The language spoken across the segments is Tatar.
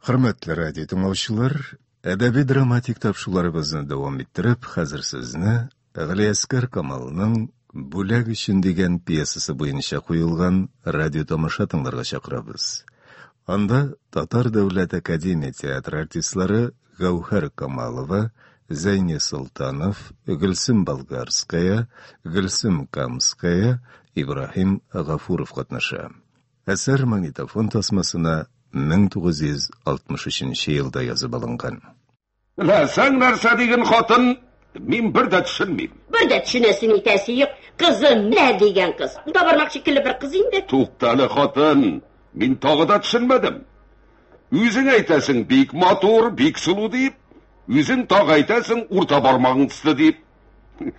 Хөрмәтле радио тыңлаучылар, әдәби драматик тапшуларыбызны дәвам иттереп, хәзер сезне Галиәскәр Камалның Бүләк өчен дигән пьесасы буенча куелган радио тамаша тыңларга чакырабыз. Анда Татар дәүләт академия театры артистлары Гәүһәр Камалова, Зәйни Солтанов, Гөлсем Болгарская, Гөлсем Камская, Ибраһим Гафуров катнаша. Әсәр магнитофон тасмасына 1963 елда язып алынган. Беләсең нәрсә, диген хатын, мин бер дә төшенмим. Бер дә төшенәсе нитәсе юк, кызы мә дигән кыз. Ул да бармак шикелле бер кыз инде. Туктале, хатын, мин тагы да төшенмәдем. Үзең әйтәсең, бик матур, бик сылу дип, үзең тагы әйтәсең, урта бармагың төсле дип.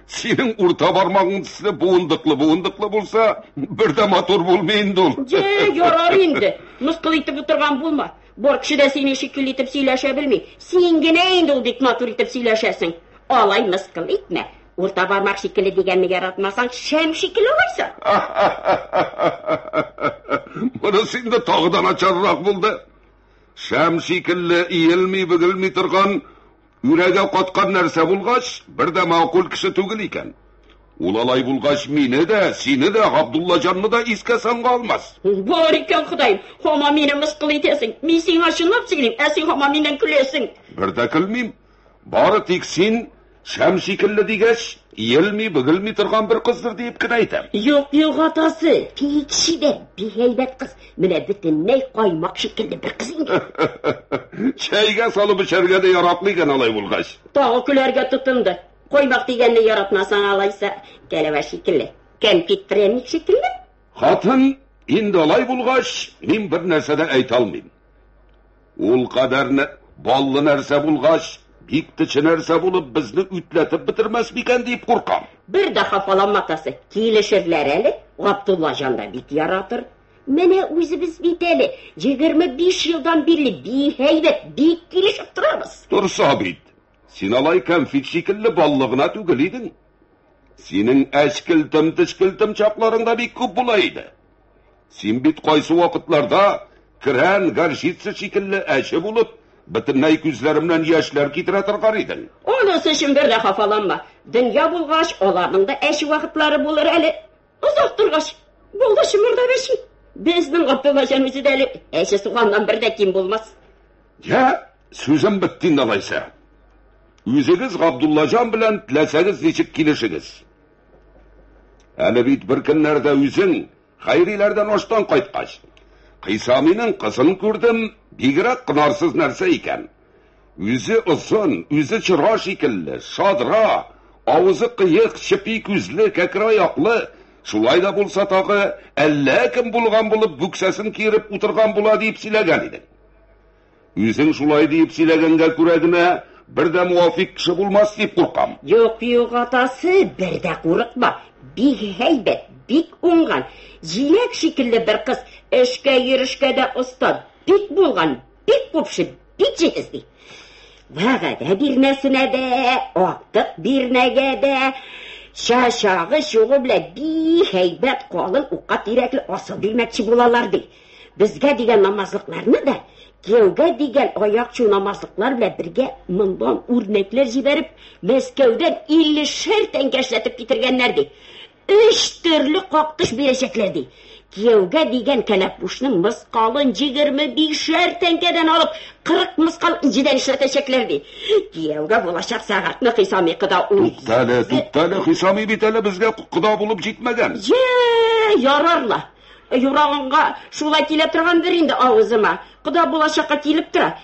Синең урта бармагың төсле буындыклы буындыклы булса, бер дә матур булмый инде ул. Же, ярар инде. Мыскыл итеп утырган булма. Бор кеше дә синең шикелле итеп сөйләшә белми. Син генә инде ул бик матур итеп сөйләшәсең. Алай мыскыл итмә. Урта бармак шикелле дигәнне яратмасаң, шәм шикелле алайса. Монысы инде тагы да начаррак булды. Шәм шикелле иелми, бөгелми торган Үрәгә каткан нәрсә булгач, бер дә макул кеше түгел икән. Ул алай булгач, мине дә, сине дә, Габдуллаҗанны да искә санга алмас. Бар икән, Ходаем, һаман мине мыскыл итәсең. Мин сиңа чынлап сөйлим, ә син һаман миннән көләсең. Бер дә көлмим. Бары тик син шәм шикелле дигәч, иелми, бөгелми торган бер кыздыр диеп кенә әйтәм. Юк, юк, атасы, Пикши дә бик әйбәт кыз. Менә бөтенләй каймак шикелле бер кыз инде. Чәйгә салып эчәргә дә яратмый икән алай булгач. Тагы көләргә тотынды. Каймак дигәнне яратмасаң алайса, кәләвә шикелле. Кәнфит пряник шикелле. Хатын, инде алай булгач, мин бер нәрсә дә әйтә алмыйм. Ул кадәр баллы нәрсә булгач, бик тече нәрсә булып, безне үтләтеп бетермәс микән дип куркам. Бер дә хафаланма, атасы, килешерләр әле, Габдулла җан да бик яратыр. Менә үзебез бит әле 25 елдан бирле бихәйбәт, бик килешеп торабыз. Торса бит. Син алай кәнфит шикелле баллы гына түгел идең. Синең әчкелтем-тешкелтем чакларың да бик күп була иде. Син бит кайсы вакытларда крән горчица шикелле әче булып, бөтенләй күзләремнән яшьләр китерә торган идең. Анысы өчен бер дә хафаланма. Дөнья булгач, аларның да әче вакытлары булыр әле. Озак торгач, булды чымырдап әчи. Безнең Габдуллаҗан үзе дә әле әче суганнан бер дә ким булмас. Я, Сүзем бетте инде алайса. Үзегез Габдуллаҗан белән теләсәгез ничек килешегез. Әле бит бер көннәрдә үзең Хайриләрдән аштан кайткач, Кыйсаминың кызын күрдем, бигрәк кынарсыз нәрсә икән. Үзе озын, үзе чыра шикелле, шадра, авызы кыек, чепи күзле, кәкре аяклы, шулай да булса тагы, әллә кем булган булып, бүксәсен киереп утырган була дип сөйләгән идең. Үзең шулай диеп сөйләгәнгә күрә генә, бер дә муафик кеше булмас дип куркам. Юк, юк, атасы, бер дә курыкма. Бик һәйбәт, бик уңган. Җиләк шикелле бер кыз, эшкә йөрешкә дә оста, бик булган, бик купшы, бик җитез ди. Вәгәдә бирмәсенә дә, актык бирмәгә дә, чачагы чугы белән бик һәйбәт калын укка тирәкле асыл бирмәкче булалар ди. Безгә дигән намазлыкларны да кияүгә дигән аякчу намазлыклар белән бергә мондан үрнәкләр җибәреп, Мәскәүдән 50 шәр тәңкә эшләтеп китергәннәр ди. Өч төрле кактыш бирәчәкләр ди. Кияүгә дигән кәләпүшнең мыскалын 25 шәр тәңкәдән алып, 40 мыскал инҗедән эшләтәчәкләр ди. Кияүгә булачак сәгатьне Хисами кода ул. Туктале, туктале, Хисами бит әле безгә кода булып җитмәгән. Йә, ярарлар. Юрагыңга шулай килә торгандыр инде авызыма. Кода булачакка килеп тора.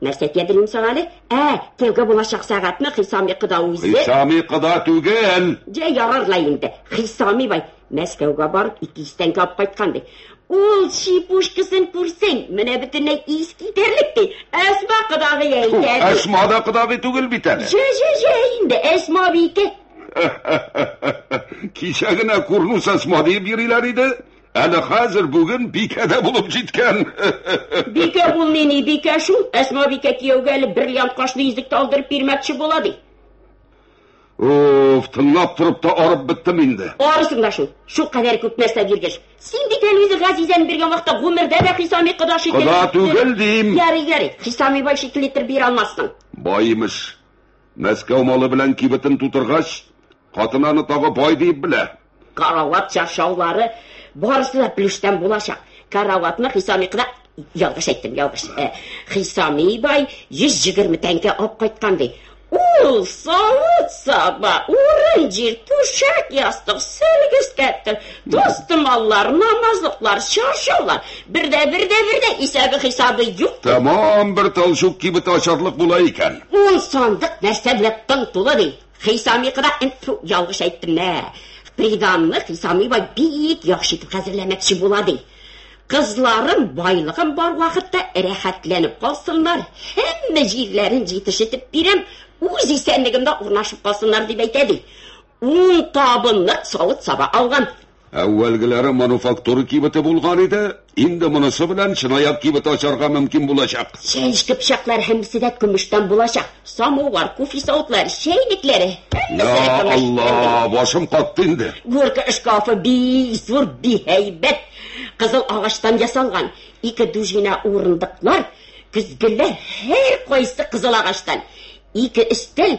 Нәрсә тиядерим соң әле? Ә, кияүгә булачак сәгатьне Хисами кода үзе. Хисами кода түгел! Җә, ярар ла инде. Хисами бай Мәскәүгә барып ике йөз тәңкә алып кайткан, ди. Ул чипушкасын күрсәң, менә бөтенләй ис китәрлек, ди. Әсма кодагый әйтә, ди. Әсма да кодагый түгел бит әле. Җә, җә, җә инде, Әсма абийке. Кичә генә курнус асма диеп йөриләр иде. Әле хәзер бүген бикәдә булып җиткән. Бикә булмый ни, бикә шул. Әсма бикә кияүгә әле бриллиант кашлы йөзек талдырып бирмәкче була ди. Уф, тыңлап торып та арып беттем инде. Арысың да шул. Шул кадәр күп нәрсә биргәч. Син бит әле үзе Газизән биргән вакытта гомердә дә Хисами кода шикелле. Кода түгел дим. Ярый, ярый. Хисами бай шикелле итеп бир алмассың. Баймыш. Мәскәү малы белән кибетен тутыргач, хатын аны тагы бай диеп белә. Карават чаршаулары барысы да плюштан булачак. Караватны Хисами кына ялгыш әйттем, ялгыш. Э, Хисами бай 120 тәңкә алып кайткан ди. Ул савыт саба, урын җир, түшәк ястык, сөлге өстәптер. Дустым аллар, намазлыклар, чаршаулар, бердә, бердә, бердә, исәбе хисабы юк. Тәмам бер талчук кибе тачарлык була икән. Ун сандык нәрсә белән тын тулы ди. Хисами кыда инфу ялгыш әйттем мә. Приданны хисами бай бик яхшы итеп хәзерләмәкче була ди. Кызларым байлыгым бар вакытта рәхәтләнеп калсыннар, һәммә җирләрен җитешетеп бирәм, үз исәнлегемдә урнашып калсыннар дип әйтә ди. Ул табынны савыт-саба алган. Әүвәлгеләре мануфактура кибете булган иде, инде монысы белән чынаяк кибет ачарга мөмкин булачак. Чәнчке пычаклар һәммәсе дә көмештән булачак. Самовар, кофе савытлар, чәйлекләре. Я Алла, башым катты инде. Горка шкафы бик зур, бик һәйбәт. Кызыл агачтан ясалган. Ике дужина урындыклар, көзгеләр, һәр кайсы кызыл агачтан. Ике өстәл,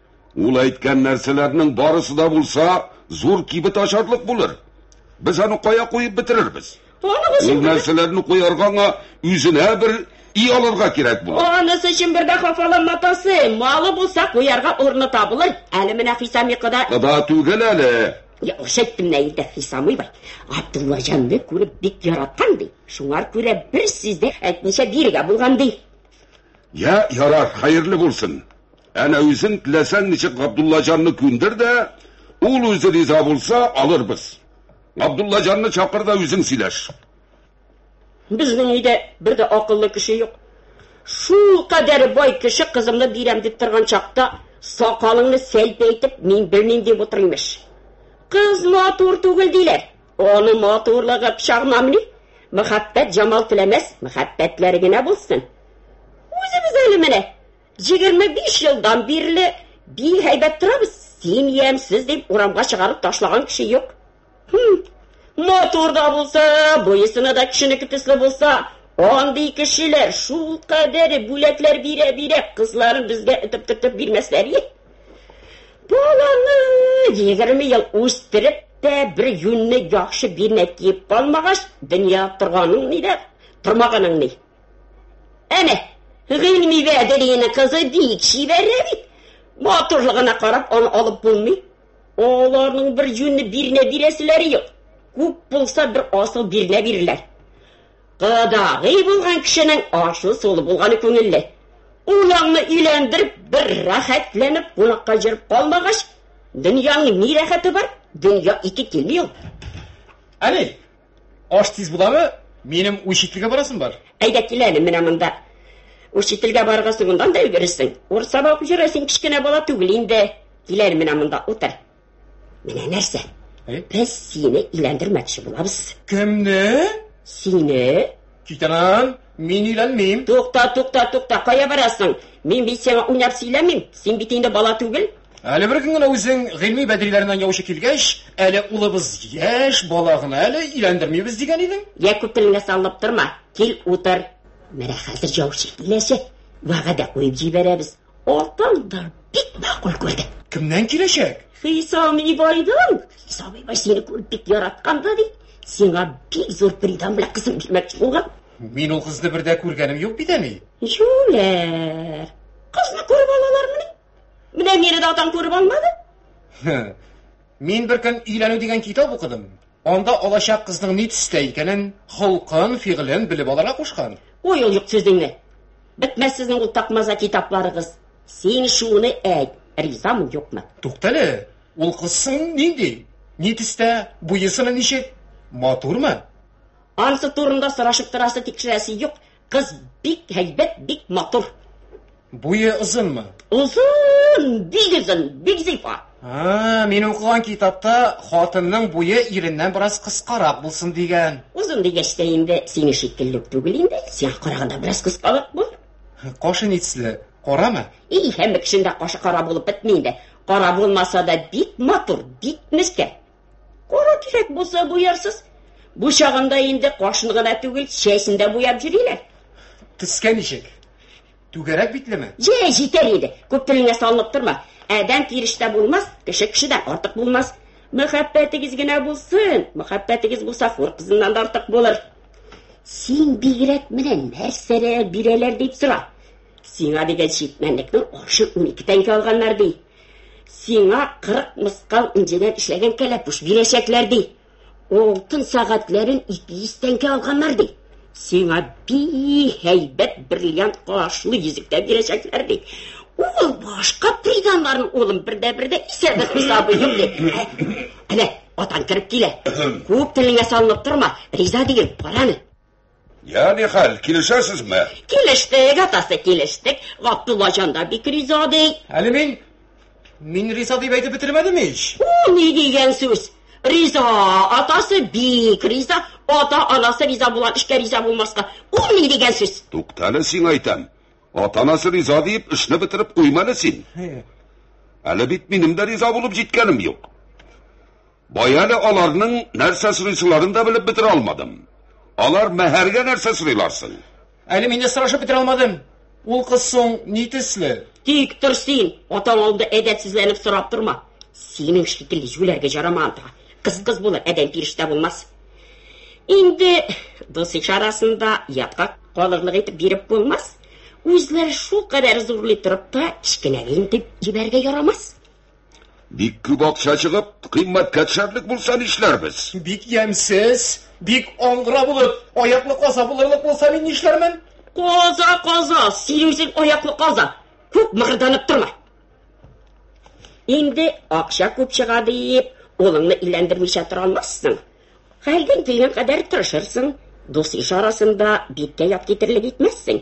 Ул әйткән нәрсәләрнең барысы да булса, зур кибет ачарлык булыр. Без аны кая куеп бетерербез? Анысы Ул нәрсәләрне куярга аңа үзенә бер и алырга кирәк булыр. Анысы өчен бер дә хафаланма, атасы. Малы булса, куярга урыны табылыр. Әле менә Хисам йокыда. Кыда түгел әле. Яхшы әйттем менә инде, Хисамый бай. Абдуллаҗанны күреп бик яраткан ди. Шуңар күрә бер сүз дә әйтмичә бирегә булган ди. Я, ярар, хәерле булсын. Әнә үзең теләсәң ничек Габдуллаҗанны күндер дә, ул үзе риза булса, алырбыз. Габдуллаҗанны чакыр да үзең сөйләш. Безнең өйдә бер дә акыллы кеше юк. Шулкадәр бай кеше кызымны бирәм дип торган чакта, сакалыңны сәлпәйтеп, мин белмим дип утыр, имеш. Кыз матур түгел диләр. Аны матурлыгы пычагынамыни? Мәхәббәт җамал теләмәс, мәхәббәтләре генә булсын. Үзебез әле менә 25 елдан бирле би һәйбәт торабыз, син ямьсез дип урамга чыгарып ташлаган кеше юк. Хм, матур да булса, буесына да кешенеке төсле булса, андый кешеләр шул кадәр бүләкләр бирә-бирә кызларын безгә этеп-төртеп бирмәсләр ие. Баланы 20 ел үстереп тә бер юньне яхшы бирмәй киеп калмагач, дөнья торганың ни дә, тормаганың ни. Әнә, гыйльми вәдерина кызы бик чибәррә бит. Матурлыгына карап, аны алып булмый. Аларның бер җүнне бирнә бирәселәре юк. Күп булса, бер асыл бирнә бирерләр. Кадагый булган кешенең ашлы сулы булганы күңелле. Улыңны өйләндереп, бер рәхәтләнеп кунакка җөреп калмагач, дөньяның ни рәхәте бар? Дөнья ике килми ул. Әни, Аш тиз буламы? Минем учительгә барасым бар. Әйдә кил әле менә монда. Учительгә барырга соңыннан да өлгерерсең. Урыс саба укып йөрә, син кечкенә бала түгел инде. Кил әле менә монда утыр. Менә нәрсә? Без сине иләндермәкче булабыз. Кемне? Сине. Китәнән, мин иләнмим. Тукта, тукта, тукта, кая барасың? Мин бит сиңа уйнап сөйләмим. Син бит инде бала түгел. Әле бер көн генә үзең гыйльми бәдриләреннән яучы килгәч, әле улыбыз яшь бала гына әле, өйләндермибез дигән идең. Йә күп телеңә салынып торма, кил утыр. Менә хәзер яучы киләчәк. Вәгъдә куеп җибәрәбез. Атаң да бик макул күрде. Кемнән киләчәк? Хисам Ибайдан. Хисам Ибай сине күреп бик яраткан да бит. Сиңа бик зур придан белән кызын бирмәкче булган. Мин ул кызны бер дә күргәнем юк бит, әни. Юләр. Кызны күреп алалармыни? Менә мине дә атаң күреп алмады. Мин бер көн өйләнү дигән китап укыдым. Анда алачак кызның ни төстә икәнен, холкын, фигылен белеп алырга кушкан. Ой, ул юк сүзеңне. Бетмәс сезнең ул такмаза китапларыгыз. Син шуны әйт, ризамы юкмы? Туктале, ул кызсың нинди? Ни төстә, буесына ничек? Матурмы? Ансы турында сорашып торасы, тикшерәсе юк. Кыз бик һәйбәт, бик матур. Буе озынмы? Озын, бик озын, бик зифа. А, мин укыган китапта хатынның буе иреннән бераз кыскарак булсын дигән. Озын дигәч тә инде сине шикелле түгел инде. Сиңа караганда бераз кыскарак бу. Кашы нитсле, карамы? И, һәм кешендә кашы кара булып бетми инде. Кара булмаса да бик матур, бик мескә. Кара кирәк булса буярсыз. Бу чагында инде кашын гына түгел, чәчен дә буяп йөриләр. Төскә ничек? Түгәрәк битлеме? Җә, җитәр иде. Күп телеңә салынып торма. Адәм тирештә булмас, кеше кешедән артык булмас. Мәхәббәтегез генә булсын. Мәхәббәтегез булса, хур кызыннан да артык булыр. Син бигрәк менә нәрсәләр бирәләр дип сора. Сиңа дигән читмәнлекнең ашы 12 тәңкә алганнар ди. Сиңа 40 мыскал инҗедән эшләгән кәләпүш бирәчәкләр, ди. Алтын сәгатьләрен 200 тәңкә алганнар, ди. Сиңа би һәйбәт бриллиант кашлы йөзектә бирәчәкләр, ди. Ул башка приданнарын, улым, бердә-бердә исәбе хисабы юк, ди. Әнә, атаң кереп килә. Күп телеңә салынып торма, риза диген, караны. Я, нихәл, килешәсезме? Килештек, атасы, килештек. Габдулла җан да бик риза ди. Әле мин мин риза дип әйтеп бетермәдем ич. У, ни дигән сүз? Риза, атасы бик риза, ата анасы риза булган эшкә риза булмаска. У, ни дигән сүз? Туктале син әйтәм. Ата анасы риза дип эшне бетереп куйманы син. Әле бит минем дә риза булып җиткәнем юк. Бай әле аларның нәрсә сорыйсыларын да белеп бетерә алмадым. Алар мәһәргә нәрсә сорыйлар соң? Әле мин дә сорашып бетерә алмадым. Ул кыз соң ни төсле? Тик тор син, атаң алдында әдәпсезләнеп сорап торма. Синең шикелле җүләргә җарамаган тагы. Кыз кыз булыр, адәм фирештә булмас. Инде дус иш арасында ятка калырлык итеп биреп булмас. Үзләр шул кадәр зурлый торып та, кечкенәләйем дип җибәрергә ярамас. Бик күп акча чыгып, кыйммәткә төшәрлек булса нишләрбез? Бик ямьсез, бик аңгыра булып, аяклы каза булырлык булса мин нишләрмен? Каза, каза, син үзең аяклы каза. Күп мыгырданып торма. Инде акча күп чыга диеп, улыңны иләндермичә тора алмассың. Хәлдән килгән кадәр тырышырсың, дус-иш арасында биткә ят китерлек итмәссең.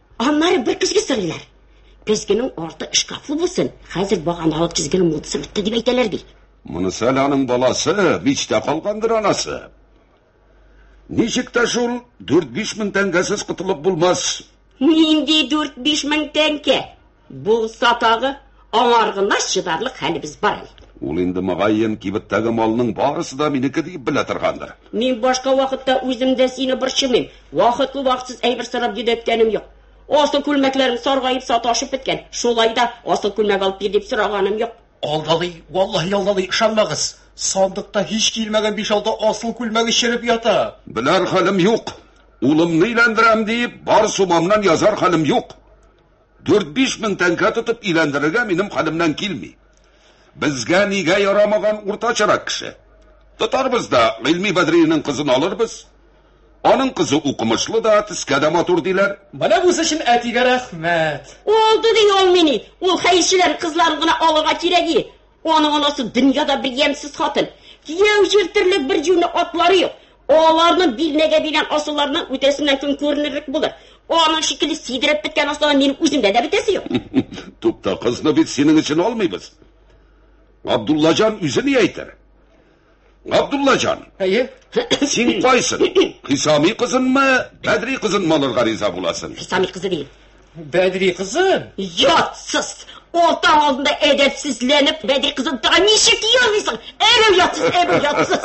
Аннары бер көзге сорыйлар. Көзгенең арты шкафлы булсын, хәзер баганалы көзгенең модасы бетте дип әйтәләр бит. Монысы әле аның баласы, мичтә калгандыр анасы. Ничек тә шул 4-5 мең тәңкәсез котылып булмас. Нинди 4-5 мең тәңкә? Булса тагы, аңар гына чыдарлык хәлебез бар әле. Ул инде мөгаен кибеттәге малның барысы да минеке дип белә торгандыр. Мин башка вакытта үзем дә сине борчымыйм. Вакытлы вакытсыз әйбер сорап йөдәткәнем юк. Асыл күлмәкләрем саргаеп саташып беткән. Шулай да асыл күлмәк алып бир дип сораганым юк. Алдалый, валлаһи алдалый, ышанмагыз. Сандыкта һич килмәгән 5-6 асыл күлмәге череп ята. Беләр хәлем юк. Улымны өйләндерәм дип, бар сумамнан язар хәлем юк. Дүрт-биш мең тәңкә тотып өйләндерергә минем хәлемнән килми. Безгә нигә ярамаган уртачарак кеше? Тотарбыз да Гыйльми Бәдриевнең кызын алырбыз. Аның кызы укымышлы да, төскә дә матур, диләр. Менә бусы өчен әтигә рәхмәт. Алды ди ул мени, ул хәерчеләрнең кызларын гына алырга кирәги. Аның анасы дөньяда бер ямьсез хатын. Кияү җиртерлек бер җүне атлары юк. Аларны билнәгә биргән асылларны үтәсеннән көн күренерлек булыр. Аның шикелле сидереп беткән асыллар минем үземдә дә бетәсе юк. Тукта, кызны бит синең өчен алмыйбыз. Абдуллаҗан үзе ни әйтер? Габдуллаҗан. Әйе. Син кайсын? Хисами кызынмы, Бәдри кызынмы алырга риза буласың? Хисами кызы дим. Бәдри кызын? Ятсыз! Олтаң алдында әдәпсезләнеп, Бәдри кызын тага ничек языйсың? Әрәү ятсыз, әрәү ятсыз.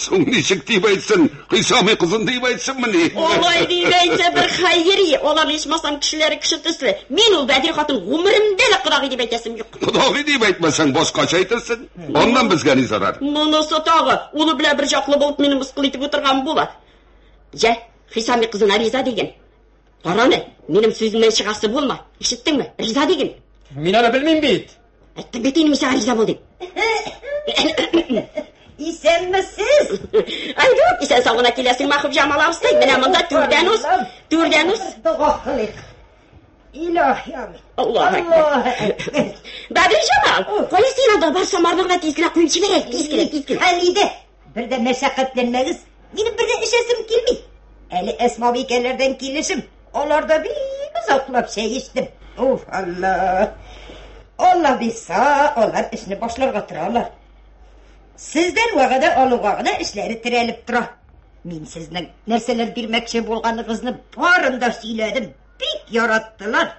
Соң ничек дип әйтсен? Хисами кызын дип әйтсенме ни? Алай дип әйтсә бер хәйри, алар ичмасам кешеләре кеше төсле. Мин ул Бәдри хатын гомеремдә дә кодагый дип әйтәсем юк. Кодагый дип әйтмәсәң, башкача әйтерсең. Аннан безгә ни зарар? Монысы тагы, улы белән бер чаклы булып мине мыскыл итеп утырган була. Җә, Хисами кызына риза диген. Караны, минем сүземнән чыгасы булма. Ишеттеңме? Риза диген. Мин аны белмим бит. Әйттем бит инде мисәгә риза бул дип. Исәнмесез. Айдук, исән сау гына киләсеңме, Хубҗамал абыстай? Менә монда түрдән үс, түрдән үс. Дога кылыйк. Илаһи Аллаһ. Аллаһ Әкбәр. Бәбел Җамал, кая син анда бар самарныкны тиз генә куеп җибәрә, тиз генә, тиз генә. Хәлидә, бер дә мәшәкатьләнмәгез. Минем бер дә эчәсем килми. Әле Әсмабикәләрдән килешем. Аларда бик озаклап чәй эчтем. Уф, Аллаһ. Аллаһ бирса, алар эшне башларга торалар. Сездән вәгъдә алуга гына эшләре терәлеп тора. Мин сезнең нәрсәләр бирмәкче булганыгызны барын да сөйләдем. бик яраттылар.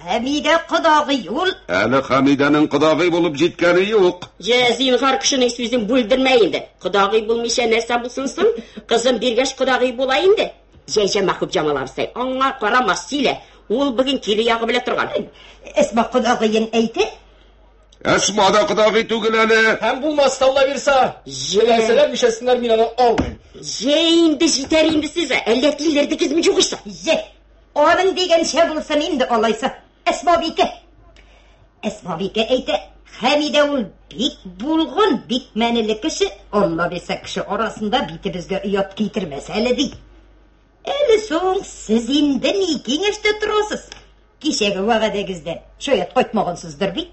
Хәмидә кодагый ул. Әле Хәмидәнең кодагый булып җиткәне юк. Җә, зинһар, кешенең сүзен бүлдермә инде. Кодагый булмыйча нәрсә булсын соң? Кызым биргәч кодагый була инде. Җәҗә Мәхүб Җамал абзый, аңа карама, сөйлә. Ул бүген кире ягы белә торган. Әсма кодагыен әйтеп, Әсма да кодагый түгел әле. Һәм булмас талла бирса, җиләсәләр мишәсеннәр мин аны алмыйм. Җә инде җитәр инде сез, әллә тилердегезме югыйсә? Җә. Аның дигәнчә булсын инде алайса. Әсма бикә. Әсма бикә әйтә, Хәмидә ул бик булган, бик мәнеле кеше, алла бирсә кеше арасында битебезгә оят китермәс әле ди. Әле соң сез инде ни киңәштә торасыз? Кичәге вәгадәгездә шаят кайтмагансыздыр бит?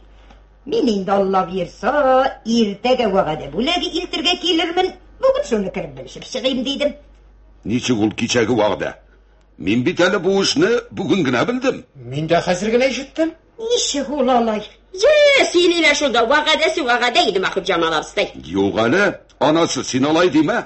Мин инде Алла бирса, иртәгә вәгадә бүләге илтергә килермен. Бүген шуны кереп белешеп чыгыйм дидем. Ничек ул кичәге вәгъдә? Мин бит әле бу эшне бүген генә белдем. Мин дә хәзер генә ишеттем. Ничек ул алай? Йә, сөйлиләр шунда, вәгадәсе вәгадә иде Махип Җамал абыстай. Юк әле, анасы, син алай димә.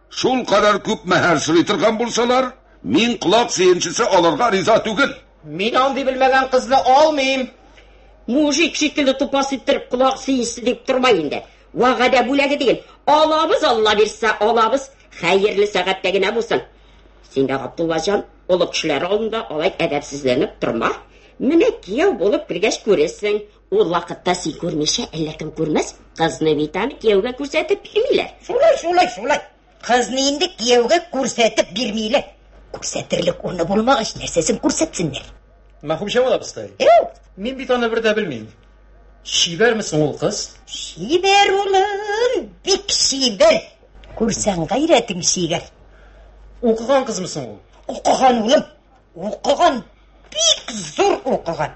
Шул кадәр күп мәһәр сорый торган булсалар, мин колак сөенчесе алырга риза түгел. Мин андый белмәгән кызны алмыйм. Мужик шикелле тупас иттереп колак сөенчесе дип тормай инде. Вәгадә бүләге дигел. Алабыз, Алла бирсә, алабыз. Хәерле сәгатьтә генә булсын. Син дә, Габдуллаҗан, олы кешеләр алдында алай әдәпсезләнеп торма. Менә кияү булып кергәч күрерсең, Ул вакытта син күрмичә, әллә кем күрмәс, кызны бит аны кияүгә күрсәтеп бирмиләр. Шулай, шулай, шулай. Кызны инде кияүгә күрсәтеп бирмиләр. Күрсәтерлек урны булмагач, нәрсәсен күрсәтсеннәр? Мәхүбҗан абыстай. Эу! Мин бит аны бер дә белмим. Чибәрме соң ул кыз? Чибәр улым, бик чибәр. Күрсәң гайрәтең чигәр. Укыган кызмы соң ул? Укыган улым, укыган. Бик зур укыган.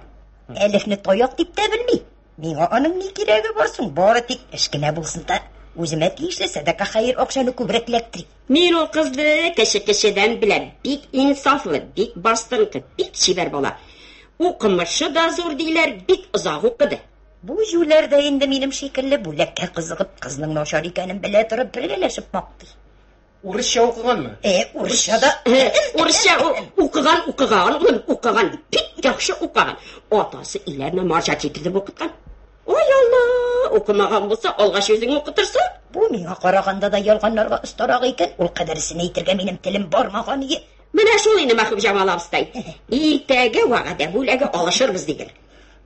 Әлифне таяк дип тә белми. Миңа аның ни кирәге бар соң? Бары тик эш кенә булсын да, үземә тиешле сәдака хәер акчаны күбрәк эләктерик. Мин ул кызны кеше кешедән беләм. Бик инсафлы, бик бастырынкы, бик чибәр бала. Укымышы да зур диләр, бик озак укыды. Бу җүләр дә инде минем шикелле бүләккә кызыгып, кызның начар икәнен белә торып бергәләшеп мактый. Урысча укыганмы? Э, урысча да. Урысча укыган, укыган, ул укыган, бик яхшы укыган. Атасы иләрне марҗа китеп укыткан. Ой, Алла, укымаган булса, алгач үзең укытырса. Бу миңа караганда да ялганларга остарак икән. Ул кадәрсен әйтергә минем телем бармаган ие. Менә шул инде Мәхүб Җамал абыстай. Иртәгә вәгъдә бүләге алышырбыз диген.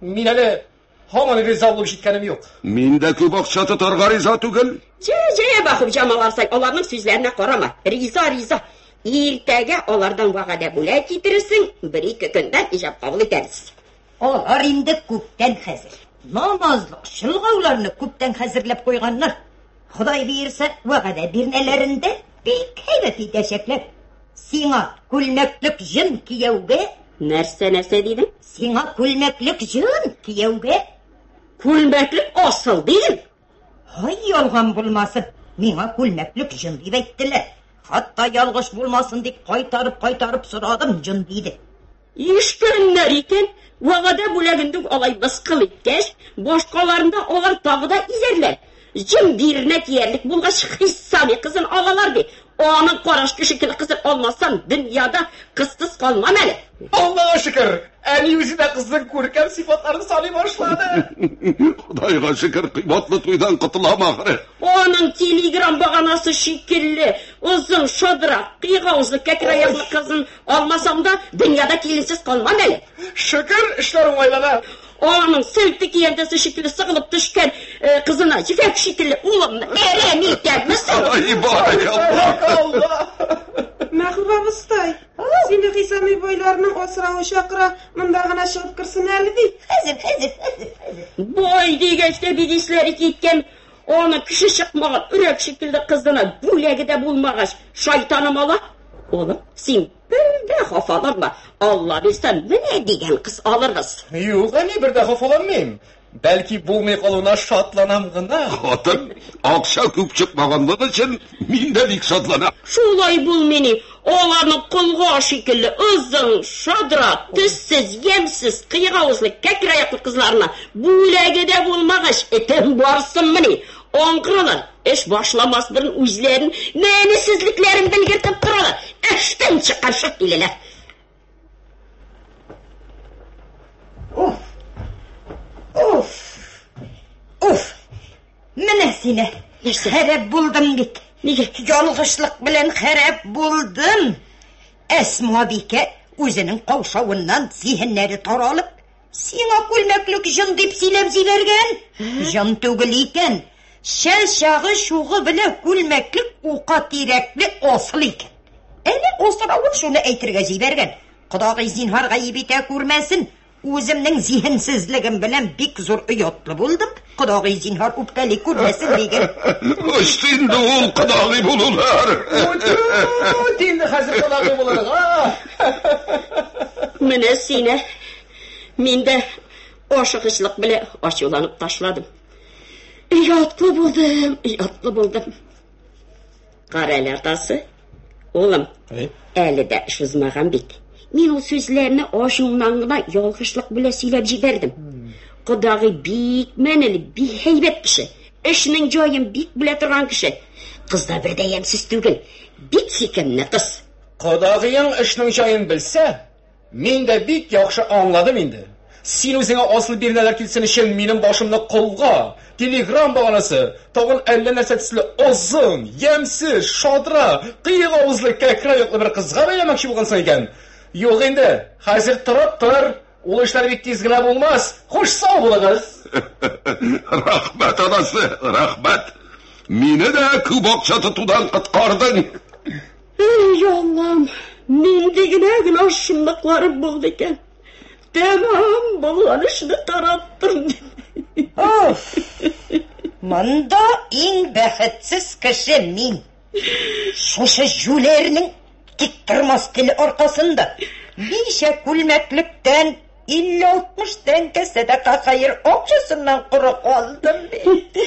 Мин әле Һаман риза булып җиткәнем юк. Мин дә күп акча тотарга риза түгел. Җә-җә, Бахып Җамал абзый, аларның сүзләренә карама. Риза, риза. Иртәгә алардан вәгадә бүләк китерерсең, бер-ике көндән иҗап кабул итәбез. Алар инде күптән хәзер. Намазлык, чолгауларны күптән хәзерләп куйганнар. Ходай бирсә, вәгадә бирнәләрендә бик һәйбәт итәчәкләр. Сиңа күлмәклек җын кияүгә Нәрсә, нәрсә дидең? Сиңа күлмәклек җын кияүгә. Күлмәклек асыл дидең? Һай, ялган булмасын. Миңа күлмәклек җын дип әйттеләр. Хатта ялгыш булмасын дип кайтарып-кайтарып сорадым җын диде. Иештерерләр икән, вәгадә бүләгендә үк алай мыскыл иткәч, башкаларында алар тагы да изәрләр. Җем биренә тиярлек булгач, Хиссами кызын алалар, ди. Аның караш кеше кебек кызын алмасам, дөньяда кызсыз калмам әле. Аллага шөкер, әни үзе дә кызның күркәм сыйфатларын саный башлады. Ходайга шөкер, кыйбатлы туйдан котылам ахры. Аның телеграм баганасы шикелле озын, шадрак, кыйгаузы, кәкре аяклы кызын Алмасаң да, дөньяда киленсез калмам әле. Шөкер, эшләр уңайлана. Аның сәлте киянтәсе шикелле сыгылып төшкән э, кызына җефәк шикелле улым әрәм итәме соң? Ай, баракалла! Мәхүбә абыстай, сине Хисами бойларның асравы чакыра, монда гына чыгып керсен әле бит. Хәзер, хәзер, хәзер. Бой дигәч тә бигисләре киткән Аның кеше чыкмаган өрәк шикелле кызына бүләге дә булмагач, шайтаным ала. Улым, син бер дә хафаланма. Алла бирсә, менә дигән кыз алырбыз. Юк, әни, бер дә хафаланмыйм. Бәлки булмый калуына шатланам гына. Хатын, акча күп чыкмаганлык өчен мин дә бик шатланам. Шулай булмый ни. Аларның колга шикелле озын, шадрак, төссез, ямьсез, кыек авызлы, кәкре аяклы кызларына бүләге дә булмагач, этем барсынмыни? Аңгыралар, эш башламас борын үзләрен мәнесезлекләрен белгертеп торалар, эштән чыкарчык киләләр. Уф! Уф! Уф! Менә сине. Нәрсә? Хәрәп булдым бит. Нигә? Ялгышлык белән хәрәп булдым. Әсмабикә үзенең каушавыннан зиһеннәре таралып, Сиңа күлмәклек җон дип сөйләп җибәргән. Җон түгел икән. Шәл чагы чугы белән күлмәклек ука тирәкле асыл икән. Әнә асравы шуны әйтергә җибәргән. Кодагый зинһар гаеп итә күрмәсен. Үземнең зиһенсезлегем белән бик зур оятлы булдым. Кодагый, зинһар, үпкәли күрмәсен диген. Очты инде ул кодагый булулар. Үт инде хәзер кодагый булырга. Менә сине. Мин дә ашыгычлык белән ачуланып ташладым. Ятлы булдым, ятлы булдым. Кара әле, атасы. Улым, әле дә эш узмаган бит. Мин ул сүзләрне ачуымнан гына ялгышлык белән сөйләп җибәрдем. Кодагый бик мәнеле, бик һәйбәт кеше. Эшнең җаен бик белә торган кеше. Кыз да бер дә ямьсез түгел. Бик сөйкемле кыз. Кодагыең эшнең җаен белсә, Мин дә бик яхшы аңладым инде. Син үзеңә асыл бирнәләр килсен өчен минем башымны колга, телеграм баганасы, тагын әллә нәрсә төсле озын, ямьсез, шадра, кыек авызлы кәкре аяклы бер кызга бәйләмәкче булгансың икән. Юк инде, хәзер торып тор, ул эшләр бик тиз генә булмас. Хуш, сау булыгыз! Рәхмәт, анасы, рәхмәт! Мине дә күп акча тотудан коткардың. Әй, Аллам, нинди генә генә шунлыкларым булды икән. Тәмам булган эшне тараттым. Оф! Монда иң бәхетсез кеше мин. Шушы җүләрнең тик тормас теле аркасында ничә күлмәклектән 50-60 тәңкә сәдака хәер акчасыннан коры калдым бит.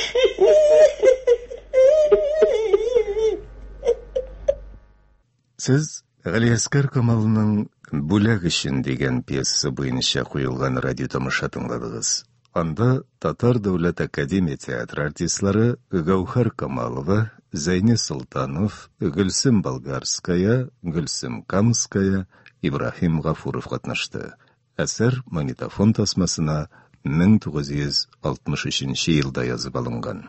Сез Галиәскәр Камалның Бүләк өчен дигән пьеса буенча куелган радио тамаша тыңладыгыз. Анда Татар дәүләт академия театры артистлары Гәүһәр Камалова, Зәйни Солтанов, Гөлсем Болгарская, Гөлсем Камская, Ибраһим Гафуров катнашты. Әсәр магнитофон тасмасына 1963 елда язып алынган.